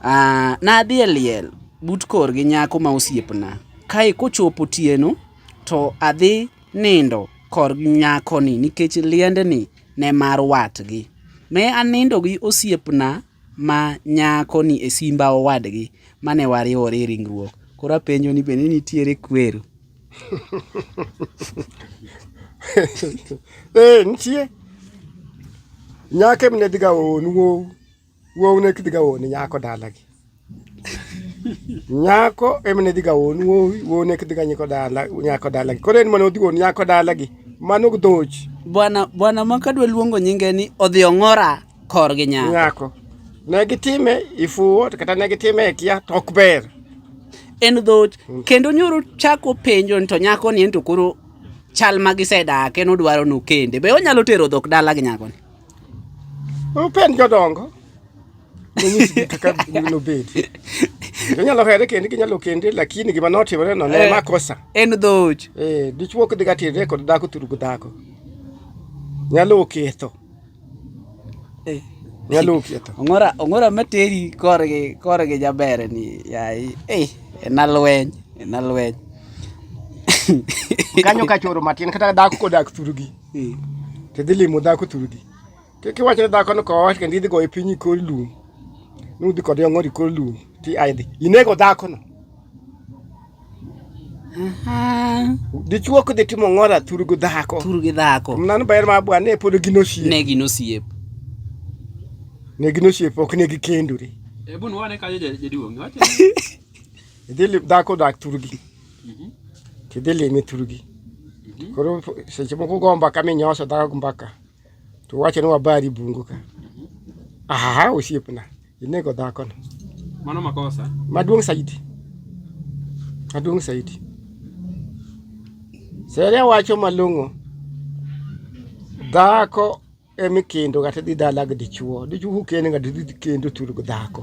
Ah, nadhi e liel but kor gi nyako ma osiepna. Kae kochopo otieno to adhi nindo kor gi nyakoni nikech liendni ne mar watgi. Ne anindo gi osiepna ma nyakoni e simba owadgi mane wariwore e ringruok. Koro apenjo ni bende nitiere kwero? Ee, nitie. Nyake mne dhiga oonu. Wuow ne kidhi ga woni nyako dalagi. Nyako emne dhi ga won wuowi, wuow ne kidhi ga nyiko dala nyako dalagi. Koro en mane odhi won nyako dalagi. Mano gdhoch. Bwana bwana ma kadwa luongo nyinge ni odhi ong'ora kor gi nyako. Nyako. Ne gitime ifuwo to kata ne gitime e kia to ok ber. En dhoch mm. kendo nyoro chako penjo to nyako ni en to koro chal ma gisedake nodwaro nokende. Be onyalo tero dhok dala gi nyako ni? Upen jodongo nonyisgi kaka nobedi. Inyalo here kendi ginyalo kendi lakini gima notimore no ne eh, makosa. En dhoch. Eh, dichwo kidhi gatire kod dhako turu gi dhako. Nyalo oketho. Eh. Nyalo oketho. Ongora ongora materi korgi korgi jaber ni yayi. Eh, en alweny, en alweny. Kanyo kachoro matin kata dhako kodak turu gi. Ee, to idhi limo dhako thuru di. Kik iwach ne dhakono ka owacho kendo idhi goye piny ikor lum. Nudhi kode ong'or ikor lum ti aidhi. Inego dhakono. Aha. Dichuo kidhi timo ng'ora thuru gi dhako. Thuru gi dhako. Mnano ber ma bwa ne pod gin osiep. Ne gin osiep. Ne gin osiep ok ne gikendore. Ebu nwane kanyo jaduong'. Idhi dhako dak thuru gi. Mhm. Tidhi limi thurgi. Mhm. Koro seche moko go mbaka minyoso dhako mbaka. To wacho ni wabari bungu ka. Mhm. Aha, osiepna. Inego dhako no. Mano makosa. Maduong' saidi. Maduong' saidi. Seria wacho malong'o. Dhako emi kendo kata dhi dala gi dichuo. Dichuo kendo kata dhi kendo thurgo dhako.